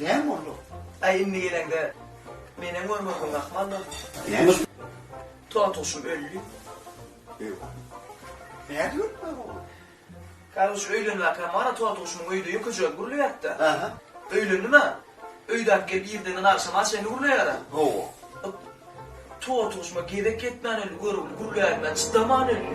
Näme boldu? Aý indi geleňde menem görmedim Rahman dogry. Tontuşym öldi. Ewa. Nädip ölüpdir ol? Garyş öýlenmäkä mana tontuşymyň öýde ýüküjegi gürleýärdi. Aha. Öýlendim-ä. Öýdäki gelip irden agşama çenli gürleýär-ä. Hawa. Tontuşyma gezek ýetmän öldi, görogly gürlänine çydaman öldi.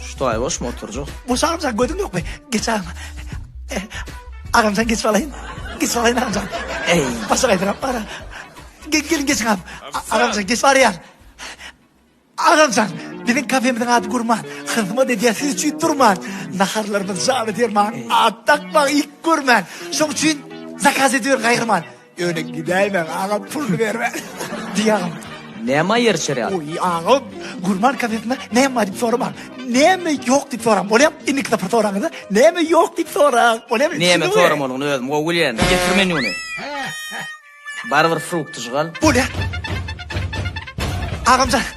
Что я boş mu oturjak? Boş amca gözün yok mu? Geç ağam. Eh, ağam sen geç alayım. Geç alayım amca. Ey. Başa kaydırap bana. Gel, gelin geç ağam. Ağam sen geç var ya. Ağam sen bizim kafemizin adı kurman. Hızma dediye siz için durman. Naharlarımız cami derman. At takma ilk görmen. Şun için zakaz ediyor gayrıman. Öne gidäýmäň aga pul berme. Diýagam. Näme ýer çerýär? Oý aga gurman kafesinde näme bar diýip sorama. Näme ýok diýip soraň. Bolýar. Indiki sapar soraňyzda näme ýok diýip soraň. Bolýarmy? Näme soramanyny özüm gowy bilýän. Getir menýuny. Barybir frukt jygal. Bolýar. Agamjan.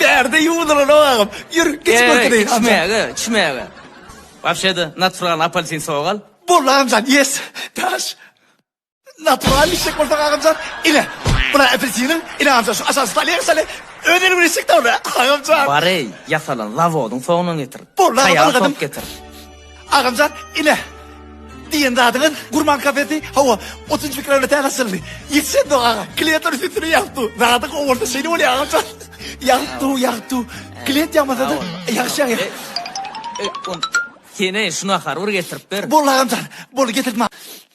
Bärde ýuwudylan obagym. Ýür, geç görki deý, Hamjan. Içmäge, içmäge. Wapşe-de, natfral apalsin sogal. Boldy, Hamjan, ýes. Daş. Natfral içjek bolsaň, agamjan, ine, bula apelsiniň, ine, agamjan, şu aşaky stolýa sal-e. Öz eliň bilen içjek-dä ony, agamjan. Bar-eý, ýasalan zawodyň soňundan getir. Boldy, agam, algadym. Taýar top getir. Agamjan ine diýen zadyňyz gurman kafesi hawa otuz iki kilometr täze açyldy. Ýetişen dok aga. Kliýentler üstüne ýagtdy. Zady gowy bolsa şeýle bolýar agamjan. Ýagtdy ýagtdy. Kliýent ýagmasa-da ýagşy ýagýar. Sene şuna harbyr getirip ber. Boldy agamjan. Boldy getirdim.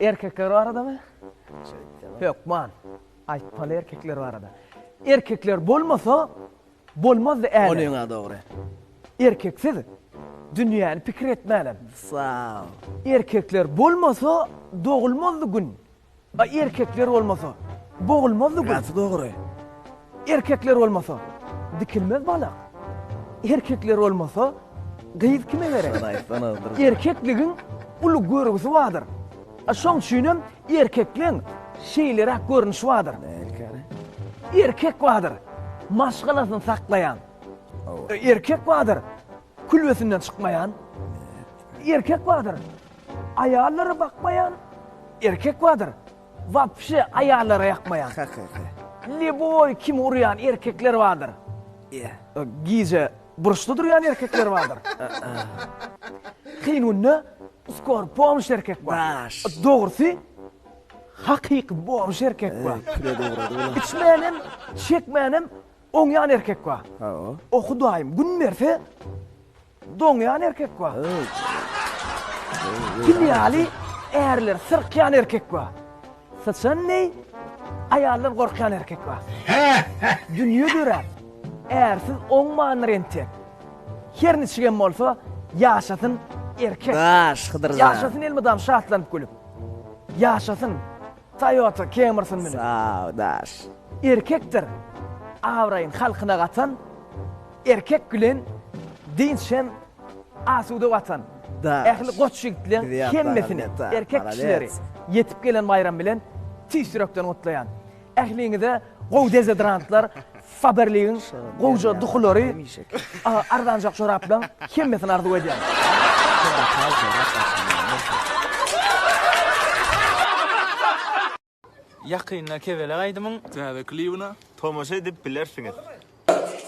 Erkekler baradamy? Hökman. Aýtmaly erkekler barada. Erkekler bolmasa, bolmazdy älem. Ony ýa dogry. Erkeksiz dünýäni pikir etmänem. Sag ol. Erkekler bolmasa, dogulmazdy gün. A erkekler bolmasa, bogulmazdy gün. Gaty dogry. Erkekler bolmasa dikilmez balak. Erkekler bolmasa gyz kime gerek? Erkekligiň uly görgüsi bardyr. Şoň üçin hem erkekleň şeýleräk görnüşi bardyr. Erkek bardyr, maşgalasyny saklaýan. Erkek bardyr, külbesinden çykmaýan. Erkek bardyr, aýallary bakmaýan. Erkek bardyr, Wapşe aýallara ýakmaýan. Heheheh. Leboý kimi urýan erkekler bardyr. Ýe. Gije burçda durýan erkekler bardyr. Kynunda skor bomž erkek bar. Daş. Dogrusy hakyky bomž erkek bar. Eý püre dogrady bula. Içmänem, çekmänem oňýan erkek bar. Hawa. O hudaýym gün berse Doňýan erkek bar. Pil ýaly ärler syrkýan erkek bar. Syçan deý aýaldan gorkýan erkek bar. Dünýe döräp, ärsiz oňmandyr entek. Her niçigem bolsa, ýaşasyn erkek. Daş, Hydyr aga. Ýaşasyn elmydam şatlanyp gülüp. Ýaşasyn Toyota Camrysyn münüp. Sag ol, daş. Erkekdir abraýyn halkyna gatan. Erkek bilen dynç hem asuda watan. Ähli goç ýigitleň hemmesini, erkek kişileri ýetip gelen baýram bilen tüýs ýürekden gutlaýan. Ähliňize gowy dezodorantlar, Faberligiň gowja duhulary, arzanjak joraplaň hemmesini arzuw edýän. Ýakynda Kebelek aýdymyň täze klibine tomaşa edip bilersiňiz.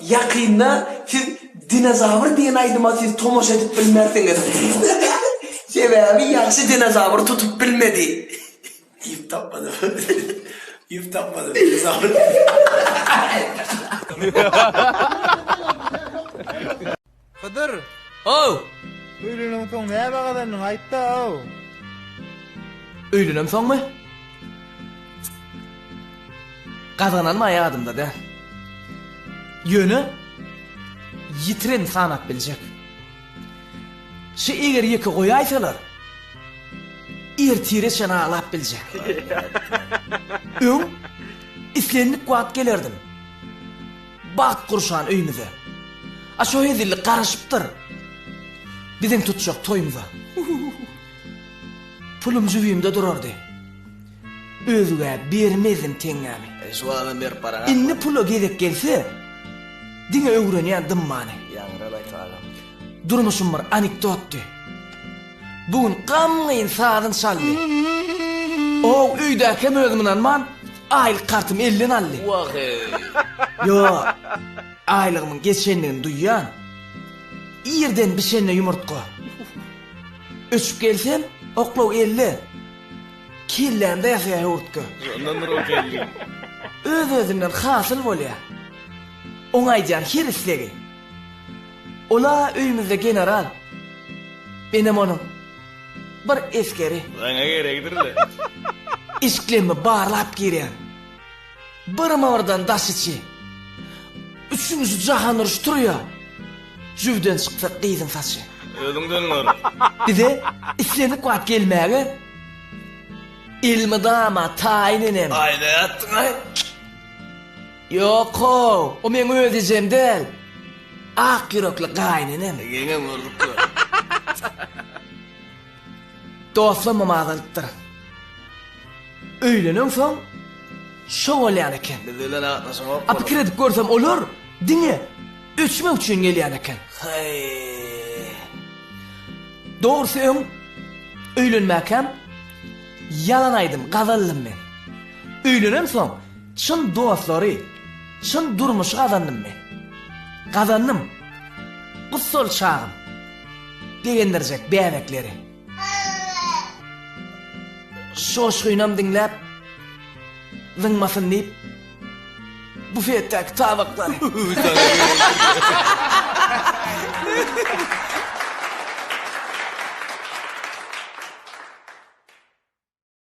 Ýakynda siz Dinozawr diýen aýdyma siz tomaşa edip bilmersiňiz. Sebäbi ýagşy dinozawr tutup bilmedi. Iýip tapmadym. Iýip tapmadym dinozawry. Hydyr, How! Öýlenemsoň näme gazandyň, aýt-da, how! Öýlenemsoňmy? Gazananym-a ýadymda däl. Ýöne, ýitiren sanap biljek. Şi eger ýeke goýaýsalar, ertire çen aglap biljek. Öň, islendik wagt gelerdim. Bagt gurşan öýmüze. A şo hezillik garaşypdyr. Biziň tutjak toýmyza. Pulum jübimde durardy. Özgä bermezdim teňňämi. Şu adam berip baran. Indi pula gezek gelse, diňe öwrenýän dymmany. Ýaňralaysa agam. Durmuşym bir anekdotdy. Bu gün gamgyn sazyn çaldy. Ow, öýdäkem özüm ynanman, aýlyk kartymy elden aldy. Wah-eý! Ýok, aýlygymyň geçendigini duýýan. Irden bişende ýumurtga. Öçüp gelsem, oklaw elde. Kellämde ýasaýar höwürtge. Şondandyr ol geldi. Öz-özünden hasyl bolýar. Oňa aýdýan her islegi. Ol-a öýümizde general. Menem onuň bir esgeri. Saňa gerekdir-le. Işiklerimi barlap girýän. Birma-birden daş içi. Üçünjisi jahan uruşy turýa. Jübüden çyksa gyzyň saçy. Özüňden gör. Bize islendik wagt gelmäge elmydama taýyn enem. Aýlaýatdyň-aý. Ýok-how, o meň öz ejem däl. Ak ýürekli gaýynenem. Ýeňňe görlüp dur. Dostlamam azalypdyr. Öýlenensoň, şo bolýan eken. Biz bilen gatnaşyňok bolup. A pikir edip görsem, olar diňe öçmek üçin gelýän eken. Haý. Dogrusy öň öýlenmäkäm ýalan aýdym, gazaldym men. Öýlenensoň. Çyn dostlary, çyn durmuşy gazandym men. Gazandym. Bu sol çagym. Begendirjek bäbekleri. Joşgunam diňläp, zyňmasyn diýip, bufetdäki tabaklary.